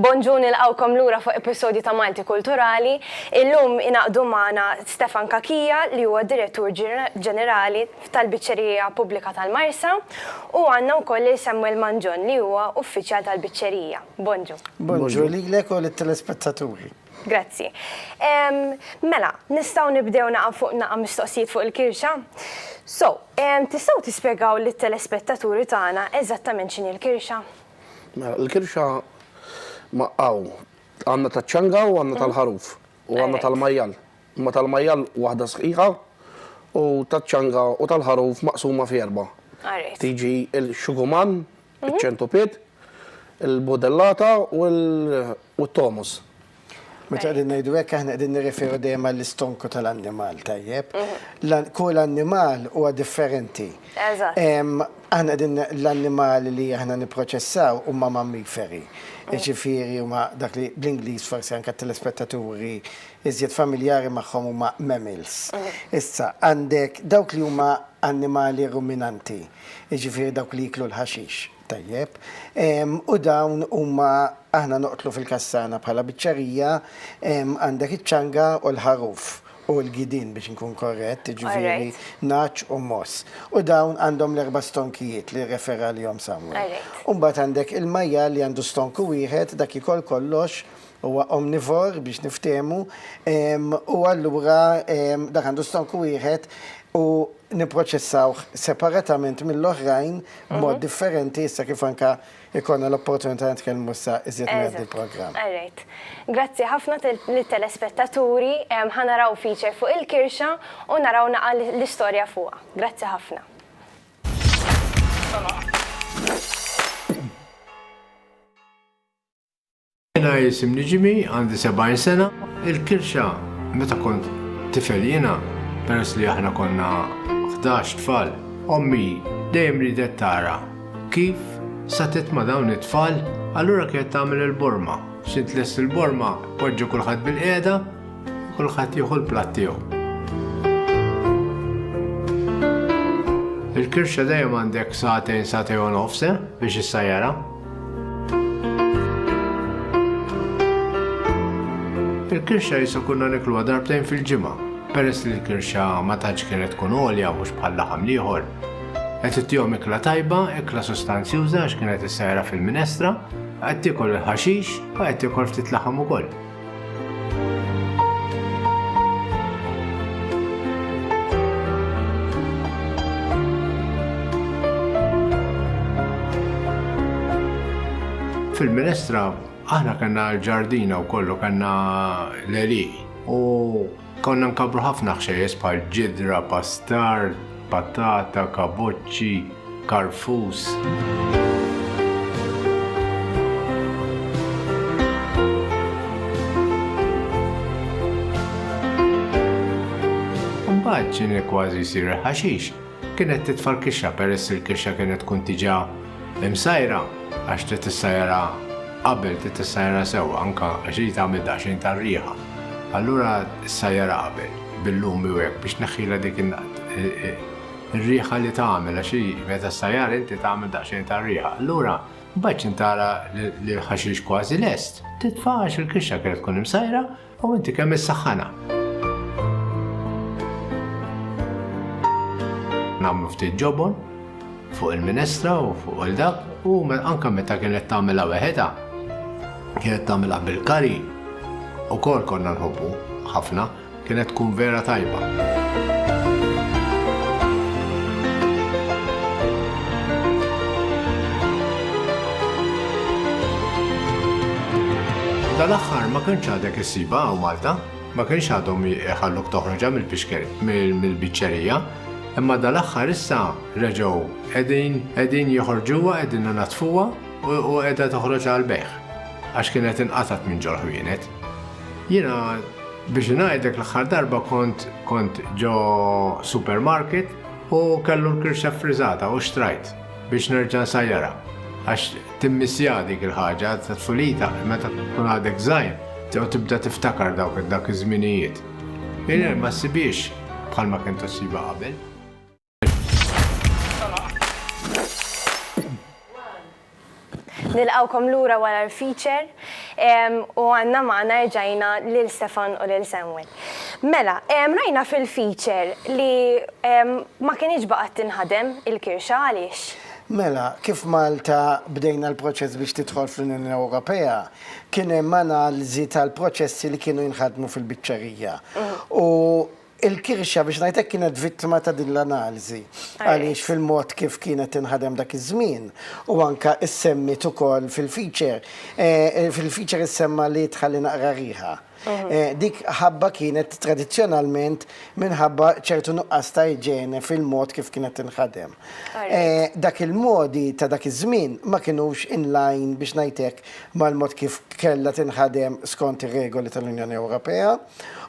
Bonġu nilqgħukom lura fuq episodju ta' Malti Kulturali. Illum ingħaqdu magħna Stefan Cachia li huwa d-Direttur Ġenerali tal-Biċċerija Pubblika tal-Marsa u għandna wkoll lil Samuel Mangion li huwa Uffiċjal tal-Biċċerija. Bonġu. Bonġu lilek u lit-telespettaturi. Grazzi. Mela, nistgħu nibdew naqa' fuq naqa' mistoqsijiet fuq il-kirxa? So, tistgħu tispjegaw lit-telespettaturi tagħna eżattament x'inhi l-kirxa? Mela, il-kirxa ma hawn għandna taċ-ċanga u għandna tal-ħaruf u għandna tal-majjal. Imma tal-majjal waħda sħiħa u taċ-ċanga u tal-ħaruf maqsuma fi erba'. Tiġi l-xuguman, iċ-ċentupied, il-budellata u t-tomus. Meta qegħdin ngħidu hekk aħna qegħdin nirreferu dejjem għall-istonku tal-annimal, tajjeb? Kull annimal huwa differenti. Eżatt. Aħna qegħdin l-annimali li aħna nipproċessaw huma mammiferi. Jiġifieri huma dak li bl-Ingliż forsi anke t-telespettaturi iżjed familjari magħhom huma mammals. Issa għandek dawk li huma annimali ruminanti. jiġifieri dawk li jieklu l-ħaxix, tajjeb, u dawn huma aħna noqtlu fil-kassana bħala biċċerija, għandek iċ-ċanga u l-ħaruf, u l-gidien biex inkun korrett, jiġifieri nagħaġ u mogħoż. U dawn għandhom l-erba' stonkijiet li rrefer għalihom Samwel. U mbagħad għandek il-majjal li għandu stonku wieħed, dak ikol kollox huwa omnivore biex niftehmu, u allura dak għandu stonku wieħed u nipproċessawh separatament mill-oħrajn b'mod differenti issa kif anke jkollna l-opportunità nitkellmu issa iżjed mingħand il-programm. All right. Grazzi ħafna lit-telespettaturi, ħa naraw feature fuq il-kirxa u naraw naqa' l-istorja fuqha. Grazzi ħafna. Jiena jisimni Ġimi, għandi 70 sena. Il-kirxa meta kont tifel jiena, peress li aħna konna 11 tfal, ommi dejjem ridet tara kif satet ma' dawn it-tfal, allura kienet tagħmel il-borma. Xi tlest il-borma, poġġu kulħadd bil-qiegħda, kulħadd jieħu l-platt tiegħu. Il-kirxa dejjem għandek satejn, satejn u nofs eh, biex issajjara. Il-kirxa jisu kunna nikluha darbtejn fil-ġimgħa, peress li l-kirxa ma tantx kienet tkun għolja mhux bħal laħam liħor. Qed ittihom ikla tajba, ikla sostanzjuża għax kienet issajra fil-minestra, qed tiekol il-ħaxix u qed tiekol ftit laħam ukoll. Fil-minestra aħna kellna l-ġardina u kollu kellna l-eli u Konna nkabbru ħafna ħxejjeż bħal ġidra, pastar, patata, kaboċċi, karfus. Imbagħad ġieni kważi jsir il-ħaxix. Kienet titfa' l-kixxa peress li l-kixxa kienet tkun diġà imsajra għax trid tissajjarha qabel, trid tissajjarha sewwa anke għax irid tagħmel daqsxejn ta' riħa. Allura ssajjarha qabel bil-lumi u hekk biex tneħħilha dik ir-riħa li tagħmel għax hi meta ssajjarha inti tagħmel daqsxejn ta' riħa. Allura mbagħad x'intara li l-ħaxix kważi lest, titfa' għax il-kixxa kienet tkun imsajra U inti kemm issaħħana? Nagħmlu ftit ġobon fuq il-minestra u fuq il-dak u anka meta kienet tagħmilha weħedha kienet tagħmilha bil-kari u kol konna nħobbu ħafna kienet tkun vera tajba. Dal-aħħar ma kinx għadek issibha hawn Malta, ma kienx għadhom iħalluk toħroġha mill-biċċerija, imma dal-aħħar issa reġgħu qegħdin qegħdin joħorġuha qegħdin inaddfuha u qiegħda toħroġ għall-bejgħ għax kienet inqatgħet minn ġol-ħwienet. Jiena biex ngħidlek l-aħħar darba kont kont ġo supermarket u kellu l-kirxa ffriżata u xtrajt. biex nerġa' nsajjarha għax timmissja dik il-ħaġa ta' tfulita meta tkun għadek żgħir jew tibda tiftakar dawk dak iż-żminijiet. Mingħajr ma ssibhiex bħalma kien tossibha qabel. Nilqgħukom lura wara l-feature u għandna magħna erġajna lil Stefan u lil Samuel. Mela, rajna fil-feature li ma kinitx baqgħet tinħadem il-kirxa, għaliex? Mela, kif Malta bdejna l-proċess biex tidħol fl-Unjoni Ewropea, kien hemm analiżi tal-proċessi li kienu jinħadmu fil-biċċerija. U Il-kirxa biex ngħid hekk kienet vittma ta' din l-analiżi għaliex fil-mod kif kienet tinħadem dak iż-żmien u anke issemmiet ukoll fil-feature, fil-feature issemma li tħalli naqra riħa. Dik ħabba kienet tradizzjonalment minħabba ċertu nuqqas ta' iġene fil-mod kif kienet tinħadem. Dak il-modi ta' dak iż-żmien ma kinux in line biex ngħid hekk mal-mod kif kellha tinħadem skont ir-regoli tal-Unjoni Ewropea.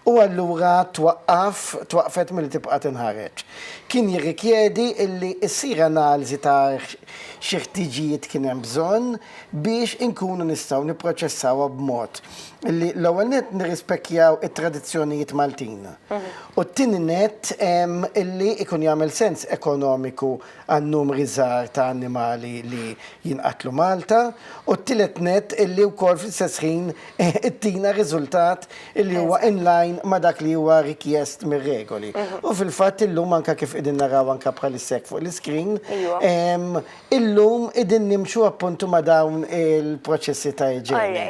u allura twaqqaf, twaqqfet milli tibqa' tinħareġ. Kien jirrikjedi illi ssir analiżi ta' xi ħtiġijiet kien hemm bżonn biex inkunu nistgħu nipproċessawha b'mod li l-ewwel nett nirrispekjaw it-tradizzjonijiet Maltin u t-tieni nett illi jkun jagħmel sens ekonomiku għan-numri żgħar ta' annimali li jinqatlu Malta, u t-tielet nett illi wkoll fl-istess ħin ittina riżultat illi huwa in line ma' dak li huwa rikjest mir-regoli. U fil-fatt illum anke kif qegħdin naraw anke bħalissa hekk fuq l-iscreen, illum qegħdin nimxu appuntu ma' dawn il-proċessi ta' iġene.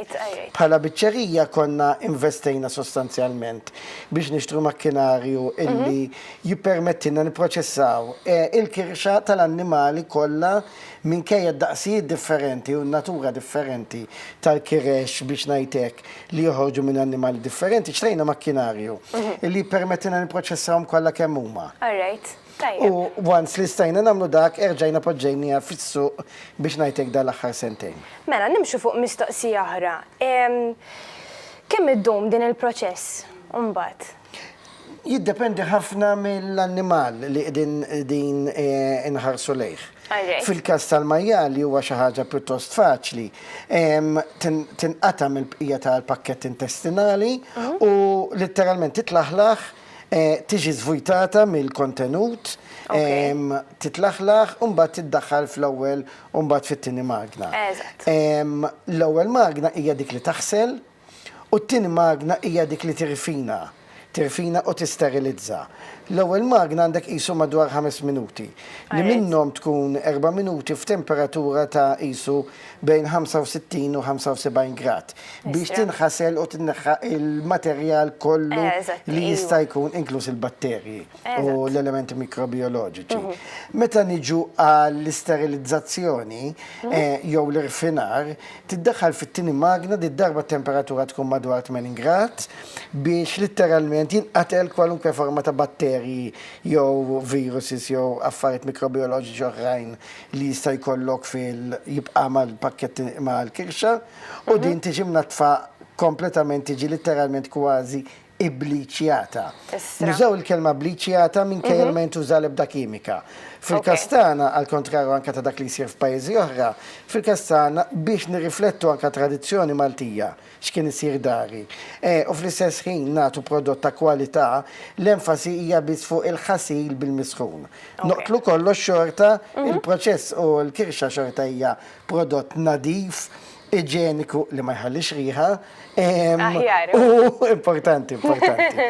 Bħala biċċerija konna investejna sostanzjalment biex nixtru makkinarju illi jippermettilna nipproċessaw il-kirxa tal-annimali kollha minkejja d-daqsijiet differenti u n-natura differenti tal-kirex, biex ngħid hekk, li joħorġu minn annimali differenti, xtrejna makkinarju li jippermettilna nipproċessawhom kollha kemm huma. All right. Tajjeb. U once li stajna nagħmlu dak, erġajna poġġejniha fis-suq, biex ngħid hekk, dal-aħħar sentejn. Mela, nimxu fuq mistoqsija oħra. Kemm iddum din il-proċess imbagħad? Jiddependi ħafna mill-annimal li qegħdin inħarsu lejh. Fil-każ tal-majjali huwa xi ħaġa pjuttost faċli. Tinqata' mill-bqija tal-pakkett intestinali u litteralment titlaħlaħ, tiġi żvujtata mill-kontenut, titlaħlaħ u mbagħad tiddaħħal fl-ewwel u mbagħad fit-tieni magna. L-ewwel magna hija dik li taħsel U t-tieni magna hija dik li tirfina, tirfina u tisterilizza. L-ewwel magna għandek qisu madwar ħames minuti, li minnhom tkun erba' minuti f'temperatura ta' qisu bejn 65 u 75 grad, biex tinħasel u tneħħa l-materjal kollu li jista' jkun, inkluż il-batterji u l-elementi mikrobijoloġiċi. Meta niġu għall-isterilizzazzjoni jew l-irfinar, Tiddaħħal fit-tieni magna, did-darba t-temperatura tkun madwar 80 grad, biex litteralment jinqatel kwalunkwe forma ta' batterji jew viruses jew affarijiet mikrobijoloġiċi oħrajn li jista' jkollok fil jibqa' mal-pakkett mal-kirxa u din tiġi mnaddfa kompletament tiġi litteralment kważi ibbliċjata. Nużaw il-kelma bbliċjata minkejja li ma jintuża l-ebda kimika. Fil-każ tagħna, għall-kontrarju anke ta' dak li jsir f'pajjiżi oħra, fil-każ tagħna biex nirriflettu anke tradizzjoni Maltija, x'kien isir dari, u fl-istess ħin nagħtu prodott ta' kwalità, l-enfasi hija biss fuq il-ħasil bil-misħun. Noqtlu kollox xorta, il-proċess u l-kirxa xorta hija prodott nadif iġeniku li ma jħallix riħa. U importanti, importanti.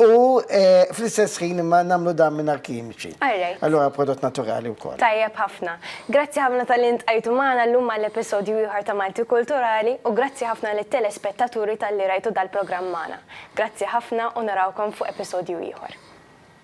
U eh, fl-istess ħin imma namlu dan minn arkimiċi. Allora prodott naturali u kol. Tajjeb ħafna. Grazzi ħafna tal-int għajtu maħna l-lum għall-episodju ieħor ta' Malti Kulturali u grazzi ħafna li telespettaturi tal-li rajtu dal-programm maħna. Grazzi ħafna u narawkom fuq episodju ieħor.